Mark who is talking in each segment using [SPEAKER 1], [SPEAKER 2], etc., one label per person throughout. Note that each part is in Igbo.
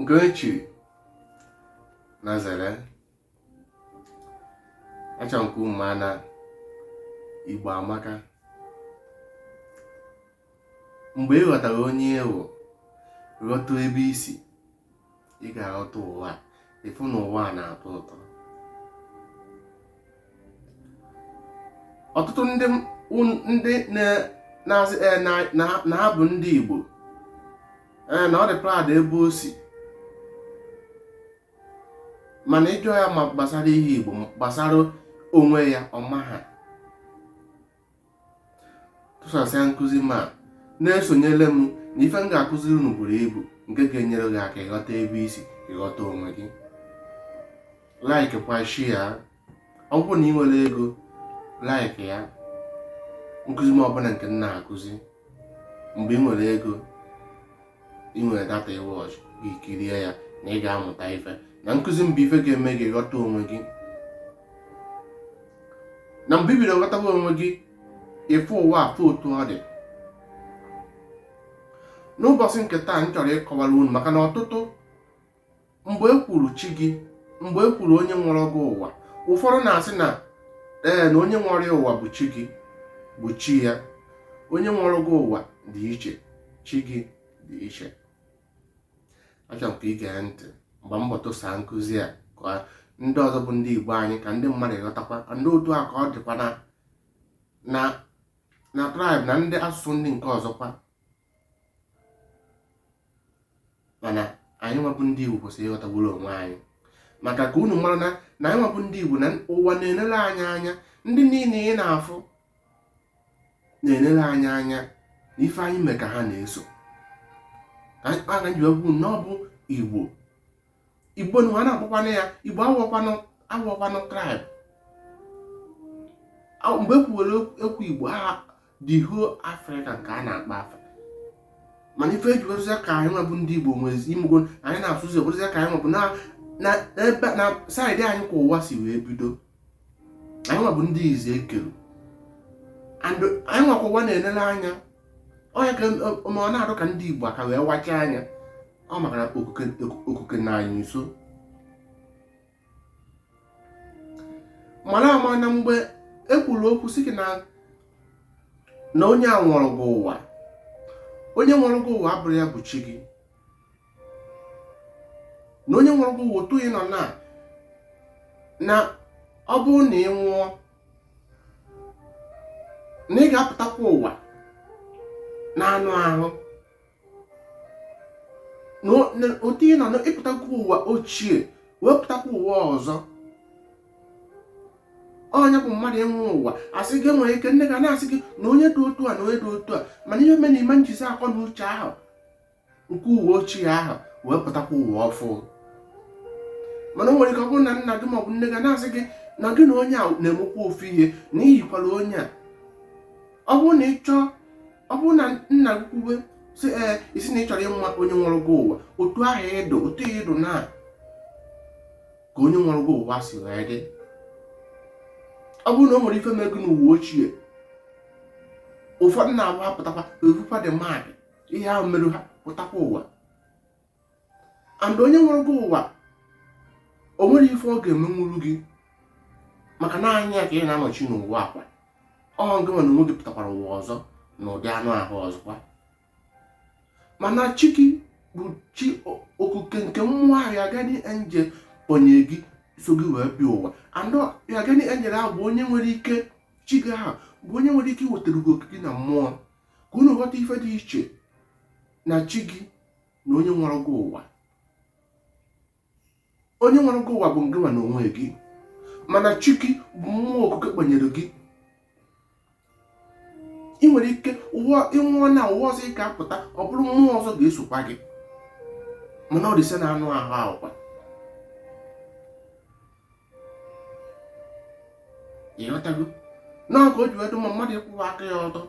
[SPEAKER 1] nke e chiri na zere acha nke ụmụ ana igbo amaka mgbe ị ghọtara onye ị wụ ghọta ebe i si ị ga-aghọta ụwa a ị fụ na ụwa a na-atọ ụtọ ọtụtụ ndị ndị na-asị eh, na ha bụ ndị Igbo eh, na ọ dị proud ebe o si mana ị jụọ ya ma gbasara ihe Igbo gbasara onwe ya ọ maha tụsasịa nkụzi m a na-esonyere m na ife m ga-akụziri unu buru ibu nke ga-enyere gị aka ịghọta ebe i si ịghọta onwe gị like kwa share ọ bụrụ na ị nwere ego like ya nkụzi m ọbụla nke m na-akụzi mgbe ị nwere ego ị nwere data ị watch gị kirie ya na ị ga-amụta ife na nkụzi m bụ ife ga-eme gị ghọta onwe gị na mgbe i bido ghọtawa onwe gị ị fụ ụwa afụ otu ọ dị n'ụbọchị nke taa m chọrọ ịkọwara unu maka na ọtụtụ mgbe e kwuru chi gị mgbe e kwuru onye nwere gị ụwa ụfọdụ na-asị na ee na onye nwere ụwa bụ chi gị bụ chi ya onye nwere gị ụwa dị iche chi gị dị iche achọrọ m ka ị gee ntị mgbe m bọtụsa nkụzi a ka ndị ọzọ bụ ndị Igbo anyị ka ndị mmadụ ghọtakwa and otu a ka ọ dịkwa na na na tribe na ndị asụsụ ndị nke ọzọkwa mana anyị nwa bụ ndị Igbo kwesịrị ịghọtagburu onwe anyị maka ka unu mara na na anyị nwa bụ ndị Igbo na ụwa na-enere anyị anya ndị niile ị na-afụ na-enere anyị anya na ife anyị mee ka ha na-eso ka anyị kpaa na njiwegwu na ọ bụ Igbo igbo nwa na-akpọkwana ya igbo awụọkwanụ tribe mgbe e kwuwere okwu igbo a the whole african ka a na-akpọ afa mana ife e ji werụzia ka anyị nwa bụ ndị igbo nwezi imego anyị na-asụzi werụzia ka anyị nwa bụ na side anyị ka ụwa si wee bido anyị nwa bụ ndị izi e kere and anyị nwa ka ụwa na-enele anya ọ ya ka mụ na-arụ ka ndị Igbo aka wee wacha anya ọ maka na okike nọ anyị nso mara ama na mgbe e kwuru okwu sị gị na na onye a nwere gị ụwa onye nwere gị ụwa abụrọ ya bụ chi gị na onye nwụrụ bụ otu ị nọ na na ọ bụrụ na ị nwụọ na ị ga-apụtakwa ụwa na anụ ahụ na otu ị nọ na ịpụtakwa ụwa ochie wee pụtakwa ụwa ọzọ onye bụ mmadụ ịnwụ ụwa asị gị nwere ike nne gị ana-asị gị na onye dị otu a na onye dị otu a mana ihe mere ị ma njizi akọ na uche ahụ nke ụwa ochie ahụ wee pụtakwa ụwa ọfụ mana o nwere ike ọ bụrụ na nna gị maọbụ nne gị na-asị gị na gị na onye a na-emekwa ofu ihe na i yikwara onye a ọ bụrụ na ị chọọ ọ bụrụ na nna gị kwuwe si ee isi na ị chọrọ ịma onye nwụrụ gị ụwa otu ahụ ị dụ otu ị dụ na ka onye nwụrụ gị ụwa si wee dị ọ bụrụ na o nwere ife me gị n'ụwa ochie ụfọdụ na-abụ apụtakwa evukwa the mark of ihe ahụ merụ ha pụtakwa ụwa and onye nwere gị ụwa o nwere ife ọ ga-emenwuru gị maka na anya ya ka ị na-anọchi n'ụwa ọkwa ọ gị nwa na onwe gị pụtakwara ụwa ọzọ na ụdị anụ ahụ ọzọkwa mana chi gị bụ chi okuke nke mmụọ ahụ your guardian angel kpọnye gị so gị wee bịa ụwa and your guardian angel ahụ bụ onye nwere ike chi gị ahụ bụ onye nwere ike iwetara gị okike na mmụọ ka unu ghọta ife dị iche na chi gị na onye nwere gị ụwa onye nwere gị ụwa bụ ngị nwa na onwe gị mana chi gị bụ mmụọ okike kpanyere gị ị nwere ike ị nwụọ na ụwa ọzọ ị ga-apụta ọ bụrụ mmụọ ọzọ ga-esokwa gị mana ọ the same anụ ahụ ahụkwa ịghọtago na ọ ka o ji wee dụ mma mmadụ ịkwụwa aka ya ọtọ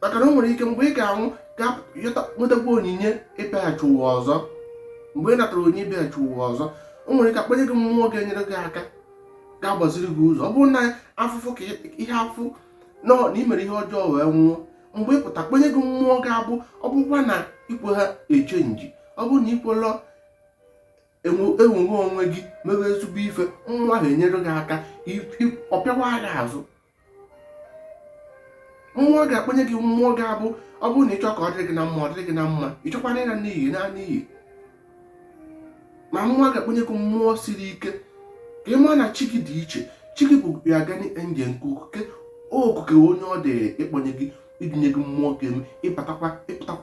[SPEAKER 1] maka na o nwere ike mgbe ị ga-anwụ ga nwetakwa onyinye ịbịaghachi ụwa ọzọ mgbe ị natara onyinye ịbịaghachi ụwa ọzọ o nwere ike akpanye gị mmụọ ga-enyere gị aka ga-agbaziri gị ụzọ ọ bụrụ na afụfụ ka ihe afụ na ị mere ihe ọjọọ wee nwụọ mgbe ị pụta akpanye gị mmụọ ga-abụ ọ bụkwa na i kweha echenji ọ bụrụ na i kwelọ enwogha onwe gị mewe ezigbo ife mmụọ ahụ enyere gị aka ọ pịawa gị azụ mmụọ ga-akpọnye gị mmụọ ga-abụ ọ bụrụ na ịchọ ka ọ dịrị gị na mma ọ dịrị gị na mma ịchọkwana ịna n'iyi ị naa n'iyi ma mmụọ ga-akpọnye gị mmụọ siri ike ka ị maa na chi gị dị iche chi gị bụ your guardian angel nke okuke onye ọ dị ịkpọnye gị idunye gị mmụọ ga-eme ịpụtakwa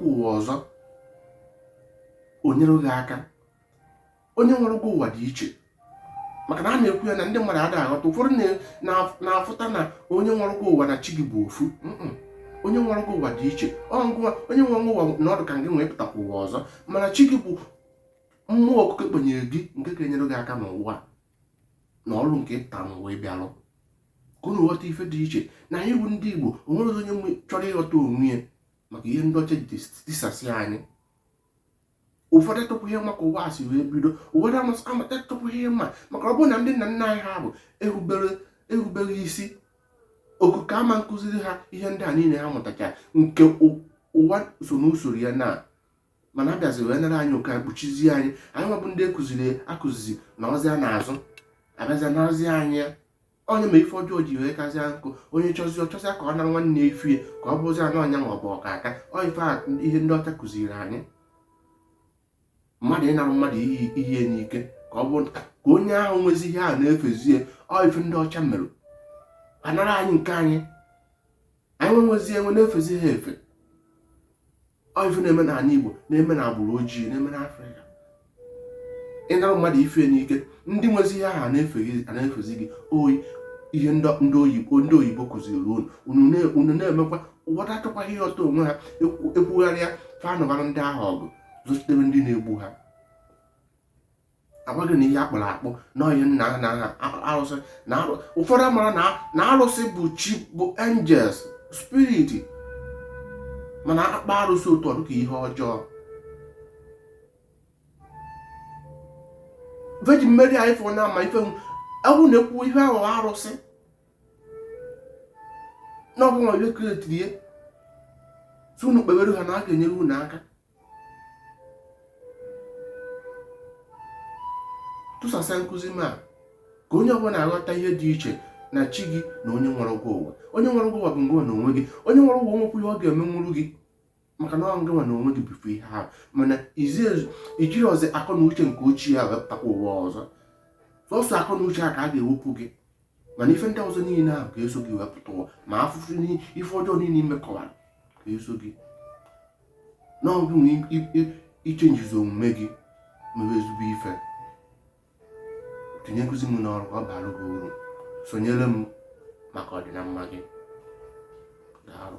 [SPEAKER 1] ụwa ọzọ o nyere gị aka onye nwere gị ụwa dị iche maka na a na-ekwu ya na ndị mmadụ adịghị aghọta ụfọdụ na-afụta na onye nwere gị ụwa na chi gị bụ ofu onye nwere gị ụwa dị iche onye nwere gị ụwa na ọ dụ ka gị wee pụtakwa ụwa ọzọ mana chi gị bụ mmụọ okike kpọnyere gị nke ga-enyere gị aka n'ụwa na ọrụ nke ị pụta n'ụwa ịbịalụ ka unu ghọta ife dị iche na anyị bụ ndị Igbo o nwerọ onye chọrọ ịghọta onwe ya maka ihe ndị ọcha ji tisasị anyị ụfọdụ atụpụ ihe ma ka ụwa si wee bido ụfọdụ amata atụpụ ihe ma maka ọ bụrụ na ndị nna nna anyị ha bụ e rubere isi okike ama nkụziri ha ihe ndị a niile ha mụtacha nke ụwa so n'usoro ya na mana a bịazi wee nara anyị oke kpuchizie anyị anyị nwa bụ ndị kụziri akụzizi na ozi a na-azụ a bịazịa na ozi anyị ọ nya me ife ọjọọ ji wee kazie nkụ onye chọzi ọ chọzịa ka ọ nara nwanne ife ya ka ọ bụzi na ọ nya bụ ọkaka ọ ife ihe ndị ọcha kụziri anyị mmadụ ịnara mmadụ ihe n'ike ka ọ bụ ka onye ahụ nwezi ihe ahụ na-efezie ọ ife ndị ọcha mere a nara anyị nke anyị anyị nwezie enwe na-efezi ha efe ọ ife na-eme na ala Igbo na-eme na agbụrụ ojii na-eme na Afrịka ịnara mmadụ ife n'ike ndị nwezi ihe ahụ ana-efezi gị ọ ihe ndị oyibo ndị oyibo kụziri unu unu na-emekwa ụfọdụ achọkwaghị ịghọta onwe ha ekwugharịa fa nụbara ndị ahụ ọgụ zọchitere ndị na-egbu ha agwa gị na ihe a kpụrụ akpụ na onye nna ha na arụsị na ụfọdụ amara na arụsị bụ chi bụ angels spirit mana a kpọọ arụsị otu ọ dụ ka ihe ọjọọ Virgin Mary anyị fụrụ na ama ife ewu na-ekwu ihe ahụ arụsị na ọ bụ nwa onye kretiri ya sị unu kpewere ha na a ga-enyere unu aka tụsasịa nkụzi m a ka onye ọbụla na-aghọta ihe dị iche na chi gị na onye nwere gị ụwa onye nwere gị ụwa bụ ngị nwa na onwe gị onye nwere gị ụwa nwekwọ ihe ọ ga-emenwuru gị maka na ọ ngị nwa na onwe gị bụfu ihe ahụ mana i jirozi akọ na uche nke ochie ahụ wee pụtakwa ụwa ọzọ sọsọ akọ na uche a ka a ga-ewepụ gị mana ife ndị ọzọ niile ahụ ga-eso gị wee pụta ụwa ma afụfụ ife ọjọọ niile i mekọwara ga-eso gị n'ọ bụ na i changezi omume gị mewe ezigbo ife tinye nkụzi m n'ọrụ ọ bara gị uru sonyere m maka ọdịnamma gị daalụ